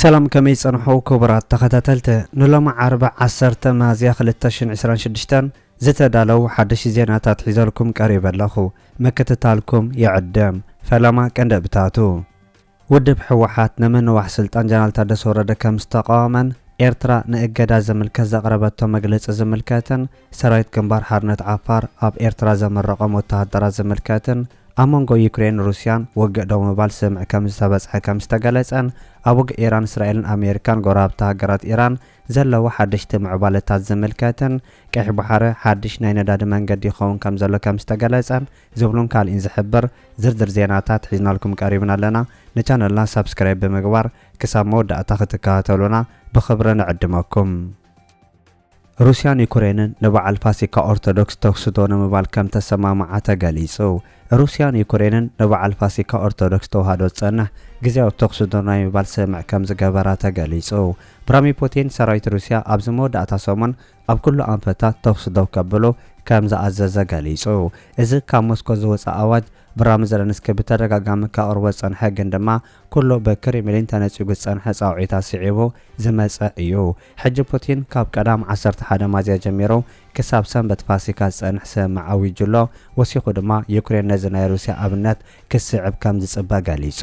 ሰላም ከመይ ጸንሑ ክቡራት ተኸታተልቲ ንሎሚ ዓርቢ ዓሰርተ ሚያዝያ ክልተ ሽሕን ዕስራን ሽዱሽተን ዝተዳለው ሓደሽቲ ዜናታት ሒዘልኩም ቀሪበ ኣለኹ ምክትታልኩም ይዕድም ፈለማ ቀንደብታቱ ውድብ ህወሓት ንምንዋሕ ስልጣን ጀነራል ታደሰ ወረደ ከም ዝተቓወመን ኤርትራ ንእገዳ ዝምልከት ዘቕረበቶ መግለጺ ዝምልከትን ሰራዊት ግንባር ሓርነት ዓፋር ኣብ ኤርትራ ዘምረቖም ወተሃደራት ዝምልከትን ኣብ መንጎ ዩክሬንን ሩስያን ውግእ ደው ምባል ስምምዕ ከም ዝተበጽሐ ከም ዝተገለጸን ኣብ ውግእ ኢራን እስራኤልን ኣሜሪካን ጎረባብቲ ሃገራት ኢራን ዘለዎ ሓደሽቲ ምዕባለታት ዝምልከትን ቀይሕ ባሕሪ ሓድሽ ናይ ነዳዲ መንገዲ ይኸውን ከም ዘሎ ከም ዝተገለጸን ዝብሉን ካልእን ዝሕብር ዝርዝር ዜናታት ሒዝናልኩም ቀሪብና ኣለና። ንቻነልና ሳብስክራይብ ብምግባር ክሳብ መወዳእታ ክትከታተሉና ብኽብሪ ንዕድመኩም። ሩስያን ዩክሬንን ንበዓል ፋሲካ ኦርቶዶክስ ተኹሲ ዶ ንምባል ከምተሰማምዓ ተገሊጹ። ሩስያን ዩክሬንን ንበዓል ፋሲካ ኦርቶዶክስ ተዋህዶ ዝጸንሕ ግዝያዊ ተኹሲ ዶ ናይ ምባል ስምምዕ ከምዝገበራ ተገሊጹ። ቭራሚር ፑቲን ሰራዊት ሩስያ ኣብዚ መወዳእታ ሰሙን ኣብ ኩሉ ኣንፈታት ተኹሲ ደው ከብሉ ከም ዝኣዘዘ ገሊጹ። እዚ ካብ ሞስኮ ዝወጸ ኣዋጅ፣ ብራሚ ዘለንስኪ ብተደጋጋሚ ከቕርቦ ዝጸንሐ ግን ድማ ኩሉ ብክሪምሊን ተነጺጉ ዝጸንሐ ጻውዒታት ስዒቡ ዝመጸ እዩ። ሕጂ ፑቲን ካብ ቀዳም ዓሰርተ ሓደ ማዝያ ጀሚሩ ክሳብ ሰንበት ፋሲካ ዝጸንሕ ስምምዕ ኣዊጁ ኣሎ፣ ወሲኹ ድማ ዩክሬን ነዚ ናይ ሩስያ ኣብነት ክትስዕብ ከም ዝጽበ ገሊጹ።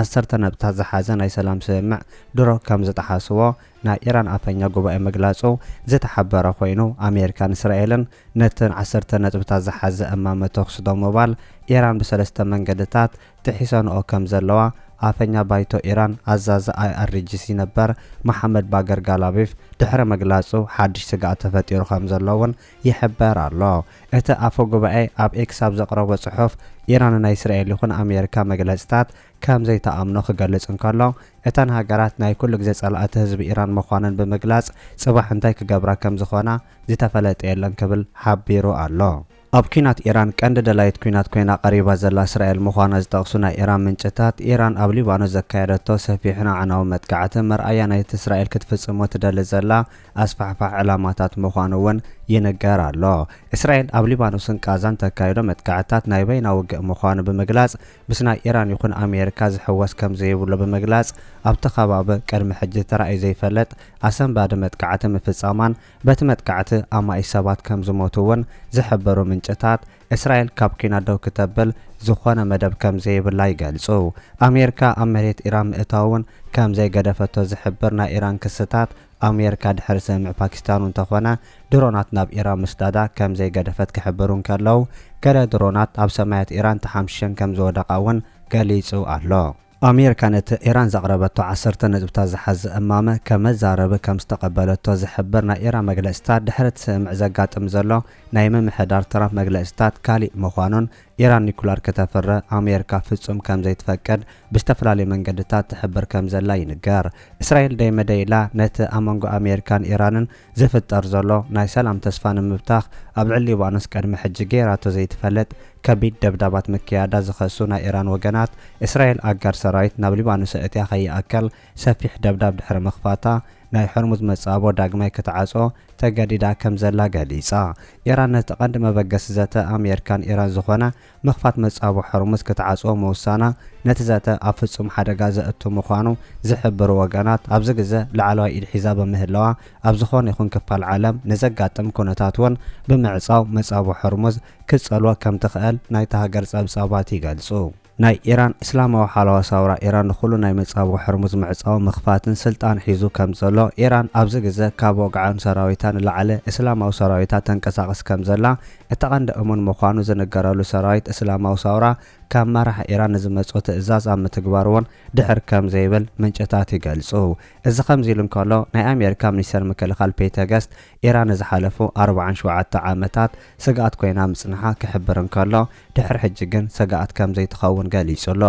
ዓሰርተ ነጥብታት ዝሓዘ ናይ ሰላም ስምምዕ ድሮ ከምዝጠሓስዎ ናይ ኢራን ኣፈኛ ጉባኤ ምግላጹ ዝተሓበረ ኮይኑ፣ ኣሜሪካን እስራኤልን ነተን ዓሰርተ ነጥብታት ዝሓዘ እማመ ተኹሲ ደው ምባል ኢራን ብሰለስተ መንገድታት ጥሒሰንኦ ከምዘለዋ ኣፈኛ ባይቶ ኢራን ኣዛዚ ኣይኣርጂሲ ነበር መሓመድ ባገር ጋላቢፍ ድሕሪ ምግላጹ ሓድሽ ስግኣት ተፈጢሩ ከምዘሎ'ውን ይሕበር ኣሎ። እቲ ኣፈ-ጉባኤ ኣብ ኤክስ ኣብ ዘቕረቦ ጽሑፍ፣ ኢራን ንናይ እስራኤል ይኹን ኣሜሪካ መግለጺታት ከም ዘይትኣምኖ ክገልጽ እንከሎ፣ እተን ሃገራት ናይ ኩሉ ግዜ ጸላእቲ ህዝቢ ኢራን ምዃነን ብምግላጽ ጽባሕ እንታይ ክገብራ ከም ዝኾና ዝተፈለጠ የለን ክብል ሓቢሩ ኣሎ። ኣብ ኲናት ኢራን ቀንዲ ደላዪት ኲናት ኮይና ቀሪባ ዘላ እስራኤል ምዃና ዝጠቕሱ ናይ ኢራን ምንጭታት፣ ኢራን ኣብ ሊባኖስ ዘካየደቶ ሰፊሕን ኣዕናውን መጥቃዕቲ መርኣያ ናይቲ እስራኤል ክትፍጽሞ ትደሊ ዘላ ኣስፋሕፋሕ ዕላማታት ምዃኑ'ውን ይንገር ኣሎ። እስራኤል ኣብ ሊባኖስን ቓዛን ተካይዶ መጥቃዕትታት ናይ በይና ውግእ ምዃኑ ብምግላጽ፣ ምስ ናይ ኢራን ይኹን ኣሜሪካ ዝሕወስ ከም ዘይብሉ ብምግላጽ፣ ኣብቲ ከባቢ ቅድሚ ሕጂ ተራእዩ ዘይፈልጥ ኣሰንባዲ መጥቃዕቲ ምፍጻማን በቲ መጥቃዕቲ ኣማኢት ሰባት ከም ዝሞቱ'ውን ዝሕብሩ ምንጭታት፣ እስራኤል ካብ ኲናት ደው ክተብል ዝኾነ መደብ ከም ዘይብላ ይገልጹ። ኣሜሪካ ኣብ መሬት ኢራን ምእታው'ውን ከም ዘይገደፈቶ ዝሕብር ናይ ኢራን ክስታት፣ ኣሜርካ ድሕሪ ስምምዕ ፓኪስታን እንተኾነ ድሮናት ናብ ኢራን ምስዳዳ ከም ዘይገደፈት ክሕብሩ እንከለዉ፣ ገለ ድሮናት ኣብ ሰማያት ኢራን ተሓምሺሸን ከም ዝወደቓ እውን ገሊጹ ኣሎ። ኣሜርካ ነቲ ኢራን ዘቕረበቶ ዓሰርተ ነጥብታት ዝሓዘ እማመ ከም መዛረቢ ከም ዝተቐበለቶ ዝሕብር ናይ ኢራን መግለጺታት፣ ድሕሪ እቲ ስምምዕ ዘጋጥም ዘሎ ናይ ምምሕዳር ትራምፕ መግለጺታት ካሊእ ምዃኑን ኢራን ኒኩላር ከተፍሪ ኣሜርካ ፍጹም ከም ዘይትፈቅድ ብዝተፈላለዩ መንገድታት ትሕብር ከም ዘላ ይንገር። እስራኤል ደይ መደይ ኢላ ነቲ ኣብ መንጎ ኣሜርካን ኢራንን ዝፍጠር ዘሎ ናይ ሰላም ተስፋ ንምብታኽ ኣብ ልዕሊ ሊባኖስ ቅድሚ ሕጂ ገይራቶ ዘይትፈልጥ ከቢድ ደብዳባት ምክያዳ ዝኸሱ ናይ ኢራን ወገናት እስራኤል ኣጋር ሰራዊት ናብ ሊባኖስ ኣእትያ ከይኣክል ሰፊሕ ደብዳብ ድሕሪ ምኽፋታ፣ ናይ ሆርሙዝ መጻብቦ ዳግማይ ክትዓጾ ተገዲዳ ከም ዘላ ገሊጻ። ኢራን ነቲ ቀንዲ መበገሲ ዘተ ኣሜርካን ኢራን ዝኾነ ምኽፋት መጻብቦ ሆርሙዝ ክትዓጽዎ ምውሳና፣ ነቲ ዘተ ኣብ ፍጹም ሓደጋ ዘእቱ ምዃኑ ዝሕብሩ ወገናት ኣብዚ ግዘ ላዕለዋይ ኢድ ሒዛ ብምህላዋ፣ ኣብ ዝኾነ ይኹን ክፋል ዓለም ንዘጋጥም ኩነታት እውን ብምዕጻው መጻብቦ ሆርሙዝ ክትጸልዎ ከም ትኽእል ናይታ ሃገር ጸብጻባት ይገልጹ። ናይ ኢራን እስላማዊ ሓለዋ ሳውራ ኢራን ንኹሉ ናይ መጻብቦ ሕርሙዝ ምዕጻው ምኽፋትን ስልጣን ሒዙ ከምዘሎ ኢራን ኣብዚ ግዘ ካብ ወግዓን ሰራዊታ ንላዕለ እስላማዊ ሰራዊታ ተንቀሳቅስ ከምዘላ እቲ ቀንዲ እሙን ምዃኑ ዝንገረሉ ሰራዊት እስላማዊ ሳውራ ካብ መራሒ ኢራን ንዝመጾ ትእዛዝ ኣብ ምትግባር እውን ድሕር ከምዘይብል ምንጭታት ይገልጹ እዚ ከምዚ ኢሉ እንከሎ ናይ ኣሜሪካ ሚኒስተር ምክልኻል ፔተ ገስት ኢራን ንዝሓለፉ ኣርብዓን ሸውዓተ ዓመታት ስግኣት ኮይና ምጽንሓ ክሕብር እንከሎ፣ ድሕሪ ሕጂ ግን ስግኣት ከም ዘይትኸውን ገሊጹ ኣሎ።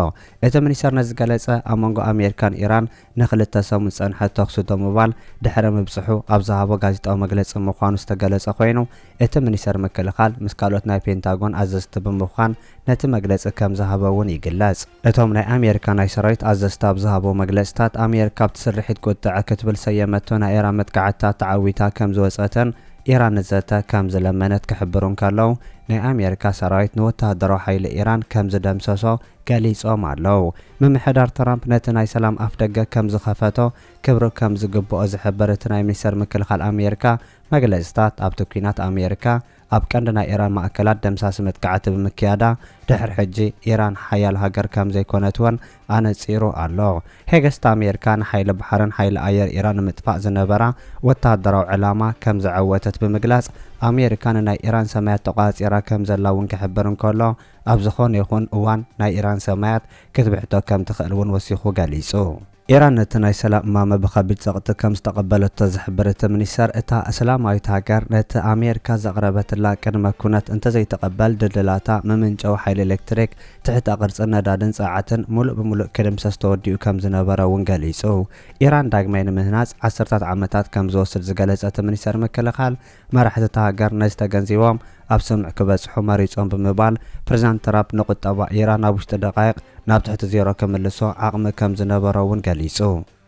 እቲ ሚኒስተር ነዚ ዝገለጸ፣ ኣብ መንጎ ኣሜሪካን ኢራን ንኽልተ ሰሙን ዝጸንሐ ተዅሲ ደው ምባል ድሕሪ ምብጽሑ ኣብ ዝሃቦ ጋዜጣዊ መግለጺ ምዃኑ ዝተገለጸ ኮይኑ፣ እቲ ሚኒስተር ምክልኻል ምስ ካልኦት ናይ ፔንታጎን ኣዘዝቲ ብምዃን ነቲ መግለጺ ከም ዝሃበ'ውን ይግለጽ። እቶም ናይ ኣሜሪካ ናይ ሰራዊት ኣዘዝቲ ኣብ ዝሃብዎ መግለጺታት፣ ኣሜሪካ ኣብቲ ስርሒት ቁጥዐ ክትብል ሰየመቶ ናይ ኢራን መጥቃዕትታት ተዓዊታ ከም ዝወጸተን ኢራን ንዘተ ከም ዝለመነት ክሕብሩ እንከለው፣ ናይ ኣሜሪካ ሰራዊት ንወተሃደራዊ ሓይሊ ኢራን ከም ዝደምሰሶ ገሊጾም ኣለው። ምምሕዳር ትራምፕ ነቲ ናይ ሰላም ኣፍደገ ከም ዝኸፈቶ ክብሪ ከም ዝግብኦ ዝሕብር እቲ ናይ ሚኒስተር ምክልኻል ኣሜሪካ መግለጺታት፣ ኣብቲ ኲናት ኣሜሪካ፣ ኣብ ቀንዲ ናይ ኢራን ማእከላት ደምሳሲ መጥቃዕቲ ብምክያዳ ድሕሪ ሕጂ ኢራን ሓያል ሃገር ከም ዘይኮነት ወን ኣነጺሩ ኣሎ። ሄግስት ኣሜርካ ንሓይሊ ባሕርን ሓይሊ ኣየር ኢራን ንምጥፋእ ዝነበራ ወተሃደራዊ ዕላማ ከም ዘዐወተት ብምግላጽ ኣሜርካ ንናይ ኢራን ሰማያት ተቆጻጺራ ከም ዘላ ውን ክሕብር እንከሎ ኣብ ዝኾነ ይኹን እዋን ናይ ኢራን ሰማያት ክትብሕቶ ከም ትኽእል ውን ወሲኹ ገሊጹ። ኢራን ነቲ ናይ ሰላም እማመ ብኸቢድ ጸቕጢ ከም ዝተቐበለቶ ዝሕብር እቲ ሚኒስተር፣ እታ እስላማዊት ሃገር ነቲ ኣሜሪካ ዘቕረበትላ ቅድመ ኩነት እንተዘይትቕበል ድልድላታ፣ መመንጨዊ ሓይሊ ኤሌክትሪክ፣ ትሕተ ቅርጽን ነዳድን ጸዓትን ምሉእ ብምሉእ ክድምሰስ ተወዲኡ ከም ዝነበረ'ውን ገሊጹ። ኢራን ዳግማይ ንምህናጽ ዓሰርታት ዓመታት ከም ዝወስድ ዝገለጸ እቲ ሚኒስተር ምክልኻል፣ መራሕቲ እታ ሃገር ነዚ ተገንዚቦም ኣብ ስምምዕ ክበጽሑ መሪጾም ብምባል ፕሬዝዳንት ትራፕ ንቁጠባ ኢራን ኣብ ውሽጢ ደቓይቕ ናብ ትሕቲ ዜሮ ክምልሶ ዓቕሚ ከም ዝነበሮ እውን ገሊጹ።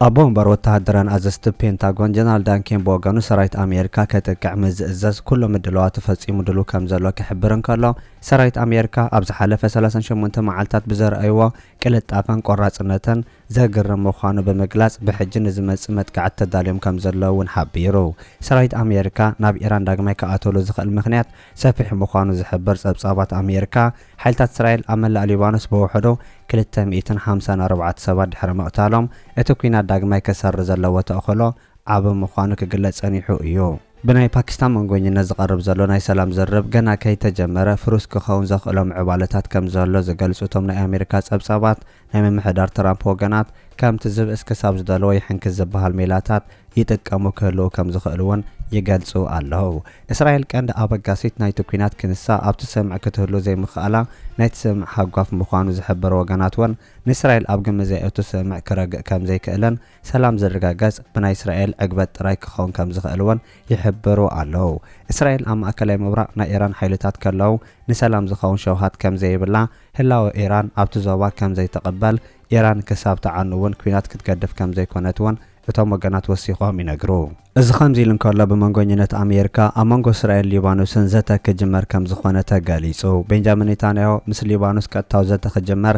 ኣቦ ወንበር ወተሃደራውያን ኣዘዝቲ ፔንታጎን ጀነራል ዳን ኬን ብወገኑ ሰራዊት ኣሜሪካ ከጥቅዕ ምስ ዝእዘዝ ኩሉ ምድላዋቱ ፈጺሙ ድሉው ከም ዘሎ ክሕብር እንከሎ ሰራዊት ኣሜሪካ ኣብ ዝሓለፈ ሰላሳን ሸሞንተን መዓልታት ብዘርኣይዎ ቅልጣፈን ቆራፅነተን ዘግርም ምዃኑ ብምግላፅ ብሕጂ ንዝመፅእ መጥቃዕቲ ተዳልዮም ከምዘለዉ እውን ሓቢሩ። ሰራዊት ኣሜሪካ ናብ ኢራን ዳግማይ ክኣትወሉ ዝኽእል ምኽንያት ሰፊሕ ምዃኑ ዝሕብር ፀብፃባት ኣሜሪካ፣ ሓይልታት እስራኤል ኣብ መላእ ሊባኖስ ብውሕዱ ክልተ ሚእትን ሓምሳን ኣርባዕተ ሰባት ድሕሪ ምቕታሎም እቲ ኲናት ዳግማይ ክሰርር ዘለዎ ተኽእሎ ዓቢ ምዃኑ ክግለፅ ፀኒሑ እዩ። ብናይ ፓኪስታን መንጎኝነት ዝቐርብ ዘሎ ናይ ሰላም ዝርርብ ገና ከይተጀመረ ፍሩስ ክኸውን ዘኽእሎ ምዕባለታት ከም ዘሎ ዝገልጹ እቶም ናይ ኣሜሪካ ጸብጻባት፣ ናይ ምምሕዳር ትራምፕ ወገናት ከምቲ ዝብእስ ክሳብ ዝደለዎ ይሕንክስ ዝበሃል ሜላታት ይጥቀሙ ክህልዉ ከም ዝኽእሉ'ውን ይገልጹ ኣለዉ። እስራኤል ቀንዲ ኣበጋሲት ናይቲ ኲናት ክንሳ ኣብቲ ስምምዕ ክትህሉ ዘይምኽኣላ ናይቲ ስምምዕ ሃጓፍ ምዃኑ ዝሕብሩ ወገናት'ውን ንእስራኤል ኣብ ግምት ዘየእቱ ስምምዕ ክረግእ ከም ዘይክእልን ሰላም ዝርጋገጽ ብናይ እስራኤል ዕግበት ጥራይ ክኸውን ከም ዝኽእል'ውን ይሕብሩ ኣለዉ። እስራኤል ኣብ ማእከላይ ምብራቕ ናይ ኢራን ሓይልታት ከለዉ ንሰላም ዝኸውን ሸውሃት ከም ዘይብላ፣ ህላወ ኢራን ኣብቲ ዞባ ከም ዘይትቕበል፣ ኢራን ክሳብ ትዓኑ'ውን ኲናት ክትገድፍ ከም ዘይኮነት'ውን እቶም ወገናት ወሲኾም ይነግሩ። እዚ ከምዚ ኢሉ እንከሎ ብመንጎኝነት ኣሜሪካ ኣብ መንጎ እስራኤልን ሊባኖስን ዘተ ክጅመር ከም ዝኾነ ተገሊጹ። ቤንጃሚን ኔታንያሁ ምስ ሊባኖስ ቀጥታዊ ዘተ ክጅመር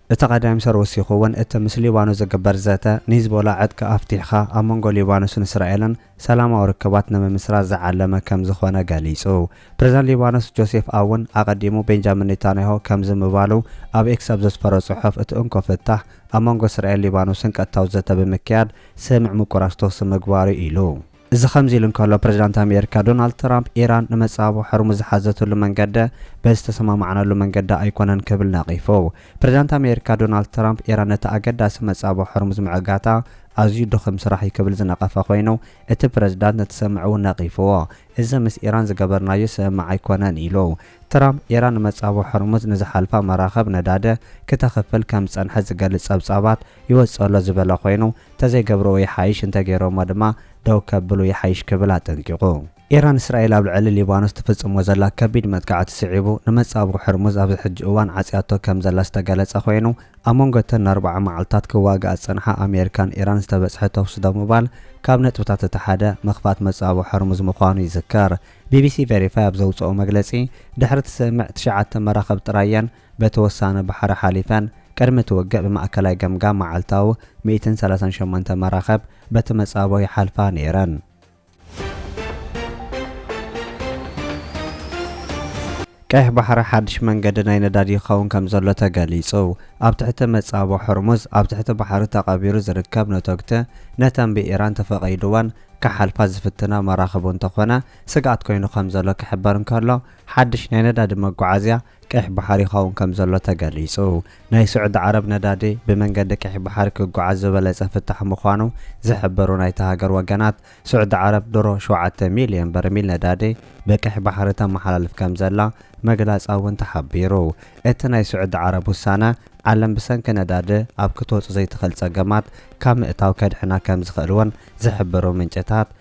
እቲ ቀዳይም ሰር ወሲኹ እውን እቲ ምስ ሊባኖስ ዝግበር ዘተ ንሂዝቦላ ዕጥቂ ኣፍቲሕኻ ኣብ መንጎ ሊባኖስን እስራኤልን ሰላማዊ ርክባት ንምምስራት ዝዓለመ ከም ዝኾነ ገሊጹ። ፕሬዝዳንት ሊባኖስ ጆሴፍ ኣውን ኣቐዲሙ ቤንጃሚን ኔታንያሁ ከምዚ ምባሉ ኣብ ኤክስ ኣብ ዘስፈሮ ጽሑፍ እቲ እንኮ ፍታሕ ኣብ መንጎ እስራኤልን ሊባኖስን ቀጥታዊ ዘተ ብምክያድ ስምምዕ ምቁራጽ ተኹሲ ምግባር'ዩ ኢሉ። እዚ ከምዚ ኢሉ እንከሎ ፕሬዚዳንት ኣሜሪካ ዶናልድ ትራምፕ ኢራን ንመፃብቦ ሖርሙዝ ዝሓዘትሉ መንገደ በዚ ዝተሰማማዕናሉ መንገዲ ኣይኮነን ክብል ነቒፉ። ፕሬዚዳንት ኣሜሪካ ዶናልድ ትራምፕ ኢራን ነቲ ኣገዳሲ መፃብቦ ሖርሙዝ ምዕጋታ ኣዝዩ ድኹም ስራሕ እዩ ክብል ዝነቐፈ ኮይኑ እቲ ፕሬዚዳንት ነቲ ሰምምዕ እውን ነቒፉዎ። እዚ ምስ ኢራን ዝገበርናዮ ስምምዕ ኣይኮነን ኢሉ። ትራምፕ ኢራን ንመፃብቦ ሖርሙዝ ንዝሓልፋ መራኽብ ነዳዲ ክተኽፍል ከምዝፀንሐት ዝገልፅ ፀብፃባት ይወጽእ ኣሎ ዝበለ ኮይኑ፣ እንተዘይገብርዎ ይሓይሽ፣ እንተገይሮምዎ ድማ ደው ከብሉ ይሓይሽ ክብል ኣጠንቂቑ። ኢራን፣ እስራኤል ኣብ ልዕሊ ሊባኖስ ትፍጽሞ ዘላ ከቢድ መጥቃዕቲ ስዒቡ፣ ንመጻብቦ ሕርሙዝ ኣብዚ ሕጂ እዋን ዓጽያቶ ከም ዘላ ዝተገለጸ ኮይኑ፣ ኣብ መንጎ እተን ንኣርብዓ መዓልታት ክዋግኣ ዝጸንሓ ኣሜሪካን ኢራን ዝተበጽሐ ተኹሲ ደው ምባል ካብ ነጥብታት እቲ ሓደ፣ ምኽፋት መጻብቦ ሕርሙዝ ምዃኑ ይዝከር። ቢቢሲ ቨሪፋይ ኣብ ዘውጽኦ መግለጺ፣ ድሕሪ እቲ ስምምዕ ትሽዓተ መራኽብ ጥራይ እየን፣ በቲ ወሳነ ባሕሪ ሓሊፈን ቅድሚ እቲ ውግእ ብማእከላይ ገምጋም መዓልታዊ ሚእትን ሰላሳን ሸሞንተ መራኸብ በቲ መጻብቦ ይሓልፋ ነይረን። ቀይሕ ባሕሪ ሓድሽ መንገዲ ናይ ነዳዲ ይኸውን ከም ዘሎ ተገሊጹ። ኣብ ትሕቲ መጻብቦ ሆርሙዝ ኣብ ትሕቲ ባሕሪ ተቐቢሩ ዝርከብ ነቶግቲ ነተን ብኢራን ተፈቒድወን ክሓልፋ ዝፍትና መራኽብ እንተኾነ ስግኣት ኮይኑ ከም ዘሎ ክሕበር እንከሎ ሓድሽ ናይ ነዳዲ መጓዓዝያ ቀይሕ ባሕሪ ይኸውን ከምዘሎ ተገሊፁ። ናይ ስዑዲ ዓረብ ነዳዲ ብመንገዲ ቀይሕ ባሕሪ ክጉዓዝ ዝበለፀ ፍታሕ ምዃኑ ዝሕበሩ ናይታ ሃገር ወገናት፣ ስዑዲ ዓረብ ድሮ ሸውዓተ ሚሊየን በርሚል ነዳዲ ብቀይሕ ባሕሪ ተመሓላልፍ ከምዘላ ምግላፃ እውን ተሓቢሩ። እቲ ናይ ስዑዲ ዓረብ ውሳነ ዓለም ብሰንኪ ነዳዲ ኣብ ክትወፁ ዘይትኽእል ፀገማት ካብ ምእታው ከድሕና ከምዝኽእል እውን ዝሕብሩ ምንጭታት፣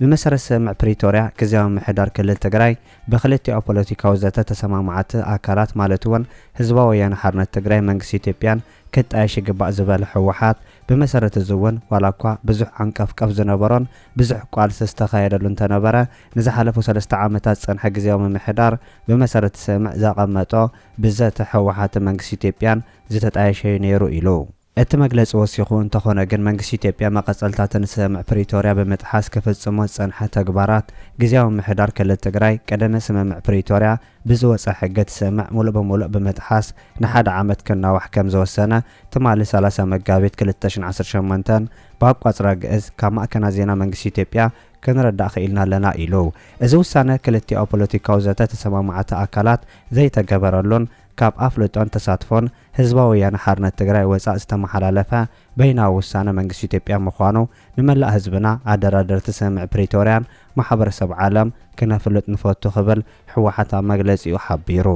ብመሰረት ስምምዕ ፕሪቶርያ ግዝያዊ ምምሕዳር ክልል ትግራይ ብክልቲኦ ፖለቲካዊ ዘተ ተሰማማዓቲ ኣካላት ማለት እውን ህዝባዊ ወያነ ሓርነት ትግራይ መንግስቲ ኢትዮጵያን ክጣየሽ ይግባእ ዝበለ ህወሓት ብመሰረት እዚ እውን ዋላ እኳ ብዙሕ ዓንቀፍቀፍ ዝነበሮን ብዙሕ ቋልሲ ዝተኻየደሉ እንተነበረ ንዝሓለፉ ሰለስተ ዓመታት ዝፀንሐ ግዝያዊ ምምሕዳር ብመሰረት ስምምዕ ዘቐመጦ ብዘተ ህወሓትን መንግስቲ ኢትዮጵያን ዝተጣየሸ እዩ ነይሩ ኢሉ። እቲ መግለጺ ወሲኹ፣ እንተኾነ ግን መንግስቲ ኢትዮጵያ መቐጸልታትን ስምምዕ ፕሪቶርያ ብምጥሓስ ክፍጽሞ ዝጸንሐ ተግባራት ግዝያዊ ምምሕዳር ክልል ትግራይ ቅደሚ ስምምዕ ፕሪቶርያ ብዝወጸ ሕጊ እቲ ስምምዕ ሙሉእ ብሙሉእ ብምጥሓስ ንሓደ ዓመት ክናዋሕ ከምዝወሰነ ትማሊ ሰላሳ መጋቢት ክልተ ሽሕን ዓሰርተ ሸሞንተን ብኣቋጽራ ግእዝ ካብ ማእከናት ዜና መንግስቲ ኢትዮጵያ ክንርዳእ ክኢልና ኣለና ኢሉ። እዚ ውሳነ ክልቲኣኡ ፖለቲካዊ ዘተ ተሰማማዕቲ ኣካላት ዘይተገበረሉን፣ ካብ ኣፍልጦን ተሳትፎን ህዝባዊ ወያነ ሓርነት ትግራይ ወፃእ ዝተመሓላለፈ በይናዊ ውሳነ መንግስቲ ኢትዮጵያ ምዃኑ ንመላእ ህዝብና፣ ኣደራደርቲ ስምምዕ ፕሪቶርያን ማሕበረሰብ ዓለም ክነፍልጥ ንፈቱ ክብል ህወሓት ኣብ መግለፂኡ ሓቢሩ።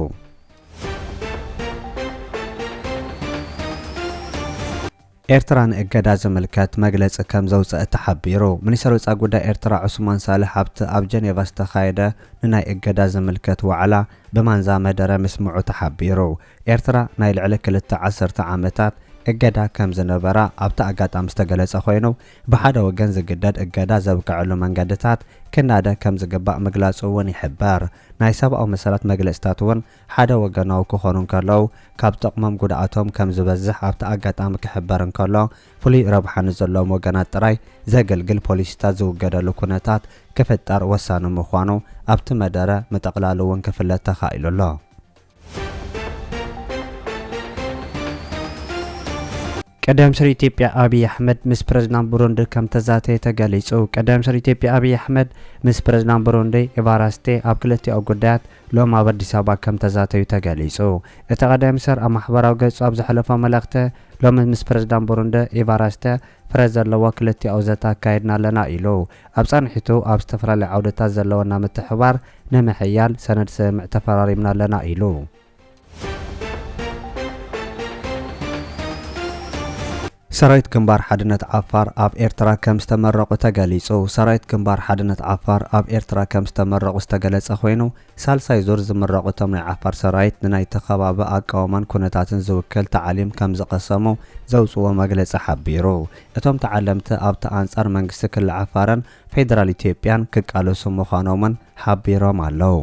ኤርትራ ንእገዳ ዝምልከት መግለጺ ከም ዘውጸእት ተሓቢሩ። ሚኒስተር ወጻኢ ጉዳይ ኤርትራ ዑስማን ሳልሕ ኣብቲ ኣብ ጀኔቫ ዝተኻየደ ንናይ እገዳ ዝምልከት ዋዕላ ብማንዛ መደረ ምስምዑ ተሓቢሩ። ኤርትራ ናይ ልዕሊ ክልተ ዓሰርተ ዓመታት እገዳ ከም ዝነበራ ኣብቲ ኣጋጣሚ ዝተገለጸ ኮይኑ፣ ብሓደ ወገን ዝግደድ እገዳ ዘብቀዐሉ መንገድታት ክናደ ከም ዝግባእ ምግላጹ እውን ይሕበር። ናይ ሰብኣዊ መሰላት መግለጺታት እውን ሓደ ወገናዊ ክኾኑ እንከለዉ፣ ካብ ጥቕሞም ጉድኣቶም ከም ዝበዝሕ ኣብቲ ኣጋጣሚ ክሕበር እንከሎ፣ ፍሉይ ረብሓ ንዘለዎም ወገናት ጥራይ ዘገልግል ፖሊሲታት ዝውገደሉ ኩነታት ክፍጠር ወሳኒ ምዃኑ ኣብቲ መደረ ምጥቕላሉ እውን ክፍለጥ ተኻኢሉ ኣሎ። ቀዳም ስር ኢትዮጵያ ኣብይ ኣሕመድ ምስ ፕረዚዳንት ቡሩንዲ ከምተዛተየ ተገሊጹ። ቀዳም ስር ኢትዮጵያ ኣብይ ኣሕመድ ምስ ፕረዚዳንት ቡሩንዲ ኤቫራስቴ ኣብ ክልቲኣዊ ጉዳያት ሎሚ ኣብ ኣዲስ ኣበባ ከምተዛተዩ ተገሊጹ። እቲ ቀዳም ስር ኣብ ማሕበራዊ ገጹ ኣብ ዘሕለፎ መልእኽቲ ሎሚ ምስ ፕረዚዳንት ቡሩንዲ ኤቫራስተ ፍረ ዘለዎ ክልቲኣዊ ዘተ ኣካይድና ኣለና ኢሉ። ኣብ ጻንሒቱ ኣብ ዝተፈላለዩ ዓውድታት ዘለወና ምትሕብባር ንምሕያል ሰነድ ስምምዕ ተፈራሪምና ኣለና ኢሉ። ሰራዊት ግንባር ሓድነት ዓፋር ኣብ ኤርትራ ከም ዝተመረቑ ተገሊጹ። ሰራዊት ግንባር ሓድነት ዓፋር ኣብ ኤርትራ ከም ዝተመረቑ ዝተገለጸ ኮይኑ፣ ሳልሳይ ዙር ዝምረቑ እቶም ናይ ዓፋር ሰራዊት ንናይቲ ከባቢ ኣቃውማን ኩነታትን ዝውክል ታዕሊም ከም ዝቐሰሙ ዘውጽእዎ መግለጺ ሓቢሩ። እቶም ተዓለምቲ ኣብቲ ኣንጻር መንግስቲ ክሊ ዓፋርን ፌደራል ኢትዮጵያን ክቃለሱ ምዃኖም'ውን ሓቢሮም ኣለው።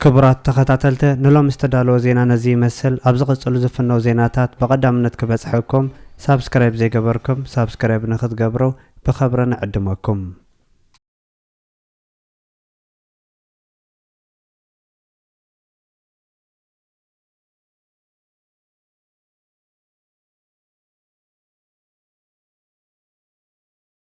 ክቡራት ተኸታተልተ ንሎሚ ዝተዳለወ ዜና ነዚ ይመስል ኣብ ዝቕጽሉ ዝፍነው ዜናታት ብቐዳምነት ክበጽሐኩም ሳብስክራይብ ዘይገበርኩም ሳብስክራይብ ንክትገብሩ ብኸብሪ ንዕድመኩም